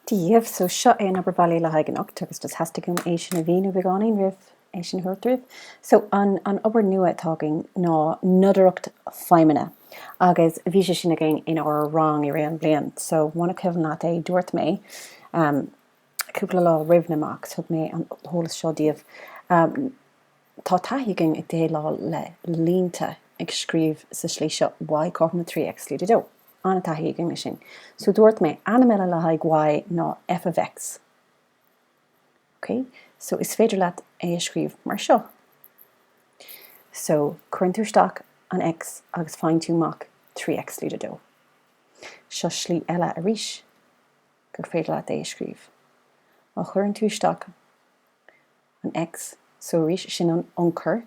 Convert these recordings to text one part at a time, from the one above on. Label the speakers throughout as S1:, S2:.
S1: Díobh, so seo é an obair bhaile le haghaidh anocht agus just theastaigh uaim é sin a mhíniú beagáinín roimh é sin a thabhairt daoibh. So an, an obair nua atá againn ná nodaireacht feidhmeanna agus bhí sé sin againn in ár rang i rith an bhliain. So muna cuimhin leat é, dúirt mé um, cúpla lá roimh na mocks, thug mé an t-eolas seo daoibh. Tá taithí againn ag déileáil le línte ag scríobh sa slí seo, Y cothrom le 3 X lúide 2. An-taithí againn leis sin. So dúirt mé, ainm eile le haghaidh Y ná F of X. Ok? So is féidir leat é a scríobh mar seo. So cuireann tú isteach an X agus faigheann tú amach 3 X lúide 2. Seo slí eile arís gur féidir leat é a scríobh. Má chuireann tú isteach. an X, so arís sin an ionchur,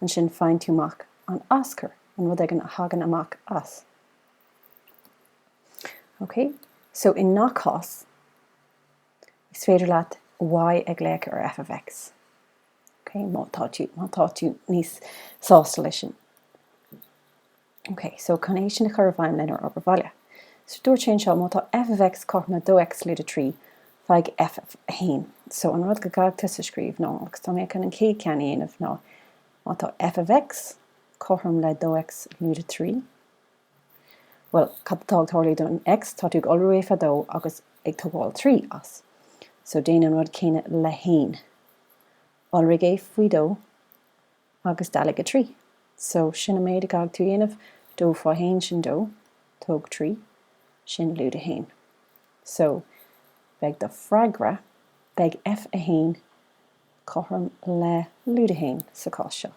S1: ansin faigheann tú amach an aschur, an rud éigin a thagann amach as. Ok, so i ngach cás is féidir leat Y a ghlaoch ar F of X, ok, má tá tú, má tá tú níos sásta leis sin. OK, so chun é sin a chur i bhfeidhm lenár obair bhaile. So dúirt sé anseo, má tá f of x cothrom le 2x lúide 3, faigh f of 1. So an rud go gcaithfidh tusa scríobh ná, agus tá mé chun an chéad ceann a dhéanamh, ná má tá f of x cothrom le 2x lúide 3, bhuel, cad atá ag tarlú don x, tá tú ag iolrú é faoi dó agus ag tógáil 3 as. So déan an rud céanna le 1. Iolraigh é faoi dó. agus dealaigh 3. So, sin an méid a gcaithfidh tú dhéanamh dó faoi haon sin dó, tóg 3, sin lúide 1. So, beidh do freagra, beidh F1 cothrom le lúide 1 sa chás seo.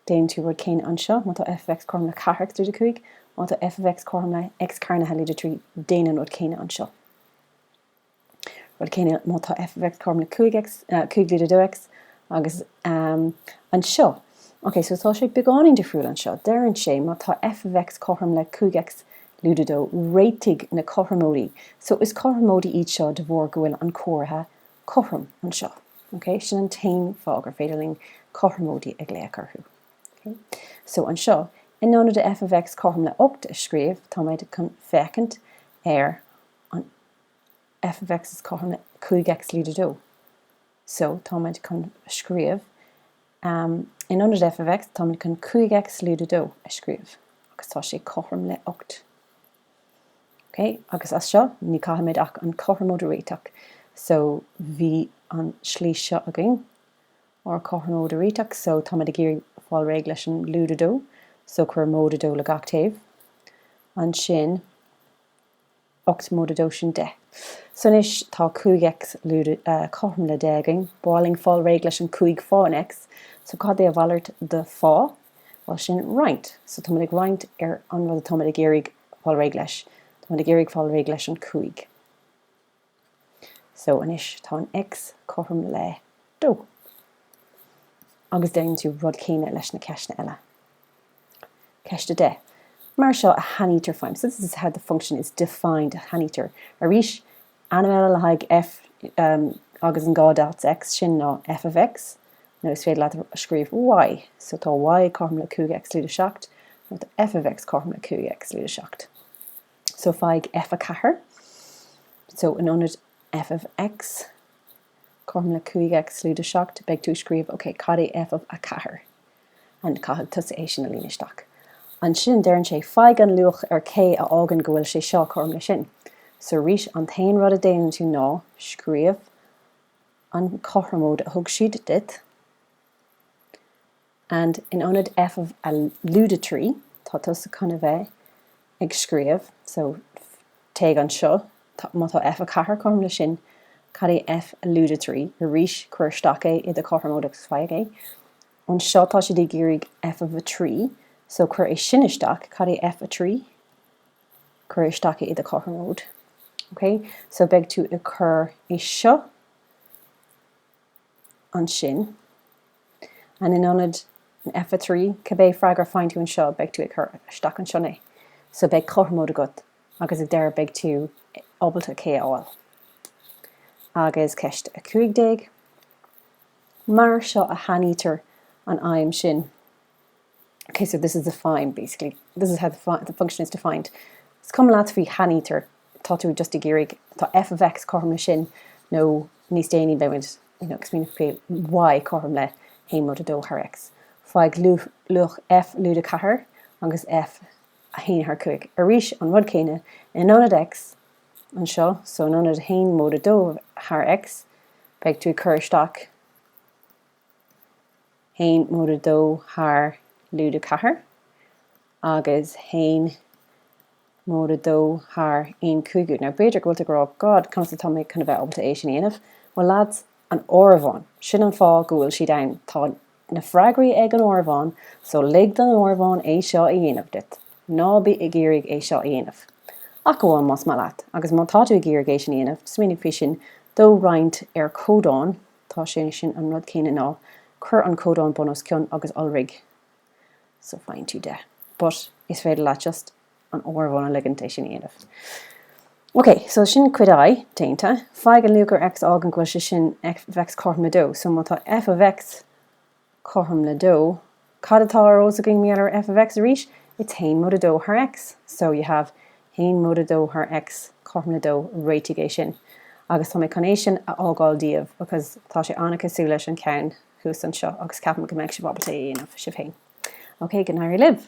S1: Déanann tú rud céanna anseo, má tá F of X cothrom le 4 X lúide 5, má tá F of X cothrom le X cearnaithe lúide 3, déan an rud céanna anseo. rud céanna má tá f of x cothrom le 5 x, uh, 5 lúide 2x, agus um, anseo, ok, so tá sé beagáinín difriúil anseo, deireann sé má tá f of x cothrom le 5x lúide dó, réitigh na cothromóidí, so is cothromóidí iad seo de bharr go bhfuil an comhartha cothrom anseo, ok, sin an t-aon fáth gur féidir linn cothromóidí a glaoch orthu. Okay. So anseo, in ionad de f of x cothrom le 8 a scríobh, táimid chun féachaint ar f of x is cothrom le 5 x lúide 2. So táimid chun a scríobh em in ionad f of x táimid chun 5 x lúide 2 a scríobh agus tá sé cothrom le 8. Ok agus as seo ní caithfimid ach an cothromóid a réiteach so bhí an slí seo againn ar chothromóid a réiteach so táimid ag iarraidh fáil réidh leis an lúide 2 so cuir móide 2 le gach taobh ansin 8 móide dó sin 10. So anois tá 5 x cothrom le 10 againn, ba mhaith linn fáil réidh leis an 5 fán x. So cad é a mhalairt de fá? Bhuel sin roinnt. So táimid ag roinnt ar an rud atáimid ag iarraidh fáil réidh leis. Táimid ag iarraidh fáil réidh leis an 5. So anois tá an X cothrom le dó. Agus déanann tú rud céanna leis na ceisteanna eile. Ceist 10. Mar seo a shainítear feidhm, so this is how the function is defined a shainítear arís ainm eile le haghaidh F agus an dhá dots X sin ná F of X nó is féidir leat a scríobh Y. So tá Y cothrom le 5X lúide 7 nó tá F of X cothrom le 5X lúide 7. So faigh F a 4. So in ionad F of X cothrom le 5X lúide 7 beidh tú ag scríobh ok cad é F of a 4? And caithfidh tusa é sin a líonadh isteach. Ansin deireann sé faigh an luach ar K a fhágann go bhfuil sé seo cothrom le sin. So arís an t-aon rud a déanann tú ná scríobh an cothromóid a thug siad duit. And in ionad F of a lúide trí, tá tusa chun a bheith ag scríobh, so téigh anseo, má tá F a ceathair cothrom le sin, cad é F a lúide trí, arís cuir isteach é i do chothromóid agus faigh é. Anseo tá siad ag iarraidh F of a trí, so cuir é sin isteach, cad é F a trí, cuir isteach é i do chothromóid. Okay? So beidh tú ag cur é seo, ansin, and in ionad an F a 3, cibé freagra faigheann tú anseo, beidh tú ag cur isteach ansan é. So beidh cothromóid agat agus ag deireadh beidh tú ábalta K a fháil. Agus ceist 15. Mar seo a shainítear an fheidhm sin. Ok so this is defined basically. This is how the, fi- the function is defined. Is cuma leat faoi shainítear, tá tú just ag iarraidh, tá f of x cothrom le sin nó níos déanaí beimid ag smaoineamh faoi y cothrom le 1 móide 2 thar x. Faigh luach f lúide 4 agus f a 1 thar 5. Arís an rud céanna in ionad x anseo, so in ionad 1 móide 2 thar x, beidh tú ag cur isteach haon móide a dó thar lúide a ceathair agus haon móide a dó thar aon cúigiú. Now b'fhéidir go bhfuil tú ag rá God, conas atá mé chun a bheith ábalta é sin a dhéanamh? Bhuel lads, an áireamhán, sin an fáth go bhfuil siad ann. Tá na freagraí ag an áireamhán so lig don áireamhán é seo a dhéanamh duit. Ná bí ag iarraidh é seo a dhéanamh. Ach amháin más maith leat. Agus má tá tú ag iarraidh é sin a dhéanamh, smaoinigh faoi sin, dó roinnt ar chodán, Tá sé sin, an rud céanna, ná cuir an codán bun os cionn agus iolraigh so faigheann tú 10. But is féidir leat just an áireamhán a ligint é sin a dhéanamh. Ok, so sin cuid I déanta. Faigh an luach ar X a fhágann go bhfuil sé sin F of X cothrom le 2. So má tá F of X cothrom le dó, cad atá ar ais againn in ionad F of X arís? It's haon móide dó thar X. So you have haon móide dó thar X cothrom le dó, réitigh é sin. Agus tá mé chun é sin a fhágáil díobh because tá sé an-chosúil leis an cheann thuas anseo agus ceapaim go mbeidh sibh ábalta é a dhéanamh sibh féin. Ok, go n-éirí libh.